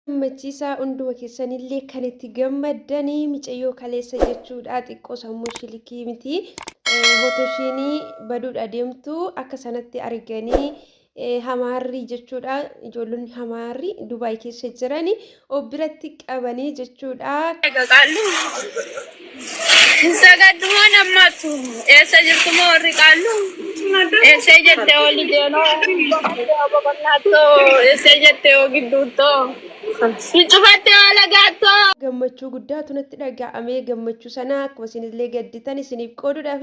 gammachiisaa hunduma keessanillee kan itti gammaddanii micayyoo kaleessa jechuudha xiqqoo sammuu shilikii miti hotoshiinii baduudha deemtu akka sanatti arganii hamaarri jechuudha ijoollonni hamaarri dubaay keessa jirani of biratti qabanii jechuudha. Sagaddumaan ammaattu eessa jirtu moo warri qaallu? Eessee jette oli jeenoo babal'aattoo eessee jette yoo gidduuttoo si cufatte yoo lagaattoo. gammachuu guddaatu natti dhaga'ame gammachuu sana akkuma isinillee gadditan isiniif qooduudhaaf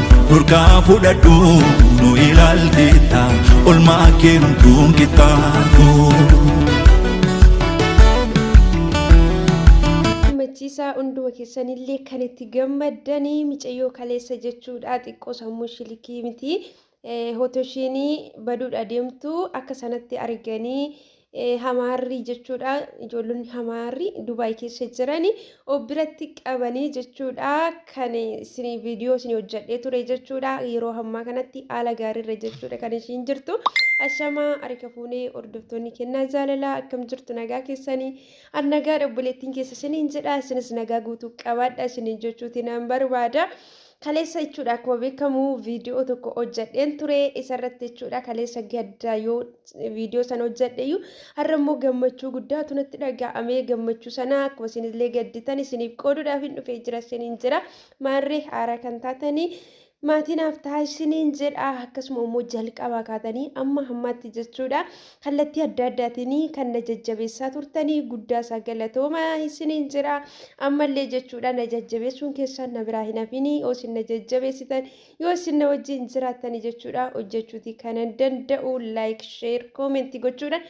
Nurkaa fudhadhu nu ilaalteetta olmaa kee hunduun qixxaatu. gammachiisaa hunduma keessanillee kan itti gammaddanii micayyoo kaleessa jechuudha xiqqoo sammuu shilikii miti hotoshiinii baduudha deemtu akka sanatti arganii Hamaarrii jechuudha. Ijoollonni hamaarrii Dubaay keessa jiran of biratti qabanii jechuudha. Kan isin viidiyoo isin hojjedhee ture jechuudha. Yeroo hammaa kanatti haala gaariirra jechuudha kan ishiin jirtu. Ashamaa harika fuunee hordoftoonni kennaa jaalalaa akkam jirtu nagaa keessanii. An nagaa obboleettiin keessa isiniin jedha. Isinis nagaa guutuu qabaadha isiniin jechuuti nan barbaada. Kaleessa jechuudha akkuma beekamu viidiyoo tokko hojjadheen ture isarratti jechuudha kaleessa gadda yoo viidiyoo sana hojjadheyyuu har'a immoo gammachuu guddaatu natti dhaga'amee gammachuu sana akkuma isinillee gadditan isiniif qooduudhaaf hin dhufee jira isiniin jira maarree haaraa kan taatanii maatii naaf ta'a isiniin jedha akkasuma immoo jalqabaa kaatanii amma hammaatti jechuudha Kallattii adda addaatiin kan na jajjabeessaa turtanii guddaa isaa galatooma isiniin jira. Ammallee jechuudha na jajjabeessuun keessaan na biraa hin hafinii yoo isin na jajjabeessitan yoo isin na wajjin jiraattanii jechuudha hojjechuuti kanan danda'u laayik sheer koomentii gochuudhaan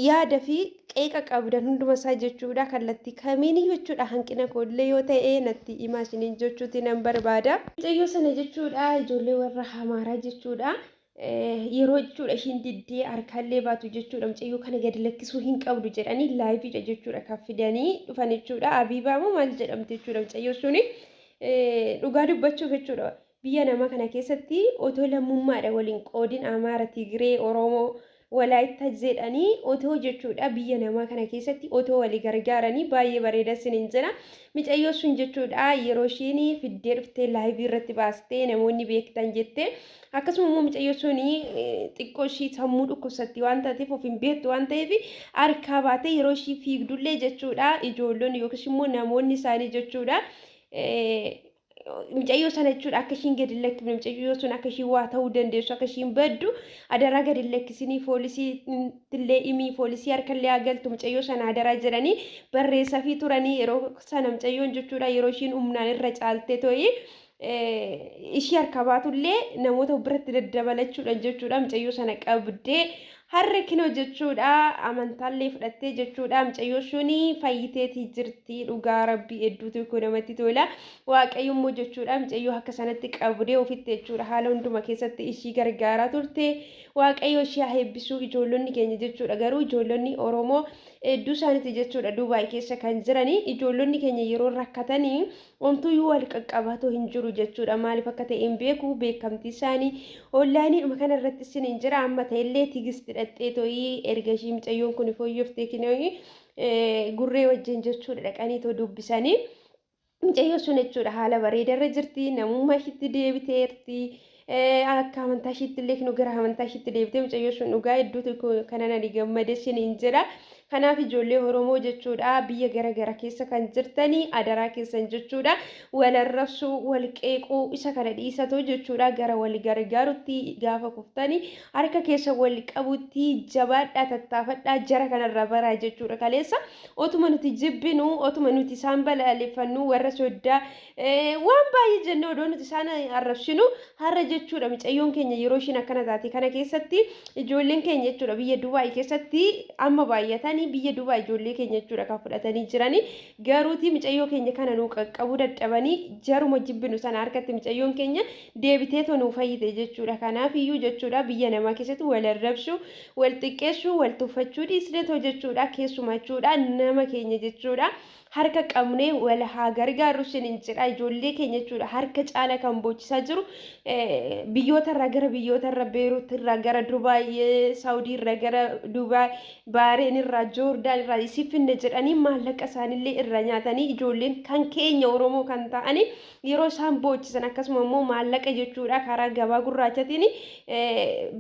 yaada fi qeeqa qabdan hunduma isaa jechuudha kallattii kamiin jechuudha hanqina koollee yoo ta'e natti himaa isiniin jechuuti nan barbaada. Mucayyoo sana jechuudha ijoollee warra hamaaraa jechuudha. yeroo jechuudha ishiin diddee harkaallee baatu jechuudha mucayyoo kana gadi lakkisuu hin qabdu jedhanii laayiviidha jechuudha kan fidanii dhufan jechuudha abiibaa moo maal jedhamti jechuudha mucayyoo suni dhugaa dubbachuuf jechuudha biyya namaa kana keessatti otoo lammummaadha waliin qoodin amaara tigiree oromoo Walaayittas jedhanii otoo jechuudha biyya namaa kana keessatti otoo wali gargaaranii baay'ee bareeda isinin jedha. Micayyoo sun jechuudha yeroo isheen fiddee dhuftee laayivii irratti baastee namoonni beektan jettee akkasuma immoo micayyoo sun xiqqoo ishii sammuu dhukkubsatti waan taateef of hin beektu waan ta'eef harkaa baatee yeroo ishii fiigdullee jechuudha ijoollonni yookiis immoo namoonni isaanii jechuudha Mucayyoo sana jechuudha akka ishiin gadi hin lakkifne mucayyoo sun akka ishiin waa ta'uu dandeessu akka ishiin baddu adaraa gadi hin lakkisinii foolisii illee imii foolisii harkallee haa galtu mucayyoo sana adaraa jedhanii barreessafii turanii yeroo sana mucayyoon jechuudha yeroo ishiin humnaan irra caaltee to'ii ishii harka baatullee namoota biratti daddabalachuudhaan jechuudha mucayyoo sana qabdee Harre kino jechuudha amantaallee fudhattee jechuudha mucayyoo shuni fayyiteeti jirti dhugaa rabbi hedduutu koo namatti tola waaqayyo immoo jechuudha mucayyoo akka sanatti qabdee ofitti jechuudha haala hunduma keessatti ishii gargaaraa turte waaqayyo ishii haa eebbisuu ijoollonni keenya jechuudha garuu ijoollonni oromoo hedduu isaaniiti jechuudha duubaay keessa kan jiranii ijoollonni keenya yeroo rakkatanii Omtuyyuu wal qaqqabatu hin jiru jechuudha. Maaliif akka ta'e hin beeku beekamtii isaanii onlaayiniidhuma kana irratti isin hin jira. Amma ta'ellee tigisti dhaqxee to'ii erga ishii micayyoon kun fooyyoftee kinooyi gurree wajjin jechuudha dhaqanii too dubbisanii. Micayyoo sun jechuudha haala bareedarra jirti namummaa ishiitti deebiteerti. akka amantaa ishiitti illee nu gara amantaa ishiitti deebitee mucayyoo sun dhugaa hedduutu kanan ani gammade isiniin jedha. Kanaaf ijoollee Oromoo jechuudha biyya gara gara keessa kan jirtanii adaraa keessan jechuudha wal arrabsuu wal qeequu isa kana dhiisatoo jechuudha gara wal gargaarutti gaafa kuftanii harka keessa wal qabutti jabaadhaa tattaafadhaa jara kanarraa baraa jechuudha kaleessa otuma nuti jibbinu otuma nuti isaan balaaleffannu warra soddaa Waan baay'ee jennee odoo nuti isaan arrabsinu har'a jechuudha micayyoon keenya yeroo ishiin akkana taate kana keessatti ijoolleen keenya jechuudha biyya Dubaay keessatti amma baay'atanii biyya Dubaay ijoollee keenya jechuudha kan fudhatanii jiranii garuuti micayyoo keenya kana nuu qaqqabuu dadhabanii jaruma jibbinu sana harkatti micayyoon keenya deebitee tonuu fayyite jechuudha kanaaf iyyuu jechuudha biyya namaa keessatti wal arrabsuu wal xiqqeessuu wal tuffachuu dhiisnetoo jechuudha keessumaa jechuudha nama keenya jechuudha harka qabnee wal haa gargaarru isiniin jedha ijoollee keenya jechuudha harka caala kan boochisaa jiru biyyootarraa gara biyyootarra beeruutirraa gara dubaay saawudiirraa gara dubaay baareenirraa joordaanirraa isii finne jedhanii maallaqa isaanillee irra nyaatanii ijoolleen kan keenya oromoo kan ta'anii yeroo isaan boochisan akkasuma immoo maallaqa jechuudha karaa gabaa gurraachatiin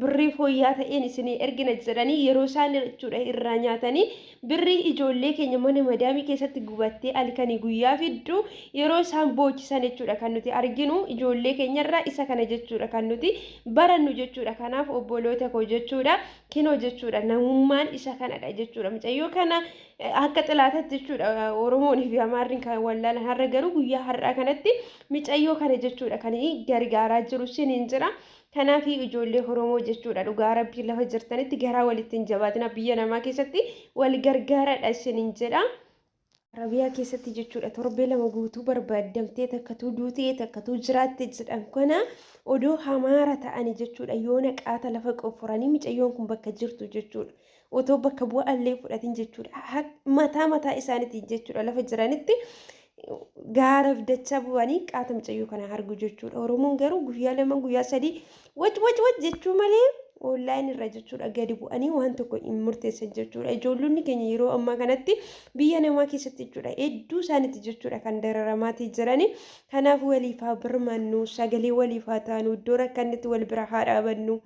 birrii fooyyaa ta'een isinii ergina jedhanii yeroo isaan jechuudha irraa nyaatanii Birrii ijoollee keenya mana madaamii keessatti gubattee alkanii guyyaa fiddu yeroo isaan boochisan jechuudha kan nuti arginu ijoollee keenyarraa isa kana jechuudha kan nuti barannu jechuudha kanaaf obboloota koo jechuudha kinoo jechuudha namummaan isa kanadha jechuudha mucayyoo kana akka xilaatatti jechuudha oromoonii fi amaarriin kan wallaalan har'a garuu guyyaa har'aa kanatti mucayyoo kana jechuudha kan gargaaraa jiru siniin jira Kanaafi ijoollee Oromoo jechuudha dhugaa rabbii lafa jirtanitti garaa walitti hin jabaatina biyya namaa keessatti wal gargaaradha isinin jedha. Arabiyaa keessatti jechuudha torbee lama guutuu barbaaddamtee takkatuu duutee takkatuu jiraatte jedhan kana odoo hamaara ta'ani jechuudha yoona qaata lafa qofforanii micayyoon kun bakka jirtu jechuudha. otoo bakka bu'aa illee hin fudhatin jechuudha. Ha- Mataa mataa isaaniitiin jechuudha lafa jiranitti gaaraf dachaa bu'anii qaata mucayyoo kana argu jechuudha. Oromoon garuu guyyaa lama guyyaa sadii wac wac wac jechuu malee online irra jechuudha gadi bu'anii waan tokko hin murteessan jechuudha. Ijoollonni keenya yeroo ammaa kanatti biyya namaa keessatti jechuudha hedduu isaaniiti jechuudha kan dararamaatii jirani. Kanaaf waliif haa birmannu sagalee waliif haa taanu iddoo rakkannetti wal bira haa dhaabannu.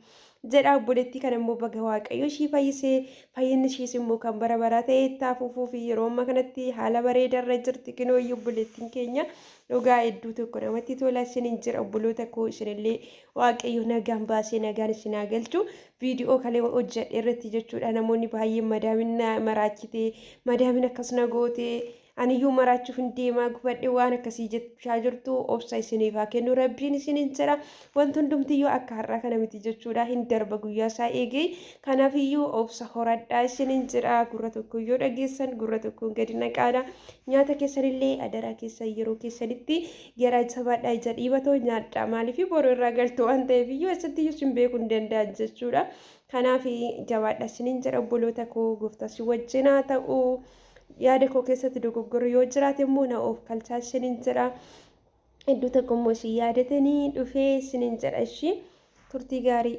jedha obboleettii kana immoo baga waaqayyo ishii fayyisee fayyinni ishiis immoo kan bara baraa ta'e itti hafuufuu fi yeroo amma kanatti haala bareeda irra jirti kinooyyi obboleettiin keenya dhugaa hedduu tokko namatti tola isinin jira obboloota koo isinillee waaqayyo nagaan baasee nagaan isin haa galchu viidiyoo kalee hojjedhe irratti jechuudha namoonni baay'een madaamin maraachitee madaamin akkas na gootee Aniyyuu maraachuufin deemaa gubadhe waan akkasii jechaa jirtu obsa isiniif haa kennu rabbiin isiniin jedha wanti hundumtiyyuu akka har'aa kana miti jechuudha hin darba guyyaa isaa eegee kanaafiyyuu obsa horadhaa isiniin jedha gurra tokko yoo dhageessan gurra tokkoon gadi naqaadha nyaata keessanillee adaraa keessan yeroo keessanitti garaa jabaadhaa ija dhiibatoo nyaadhaa maaliif boru irraa galtu waan ta'eef iyyuu eessattiyyuu isin beekuu hin danda'an jechuudha kanaaf jabaadhaa isiniin jedha obboloota koo gooftaa si wajjin haa ta'u. Yaada koo keessatti dogoggorri yoo jiraate immoo na oofkalchaa isiniin jedha. Iddoo tokko immoo isin yaadatanii dhufee isiniin jedha ishii turtii gaarii.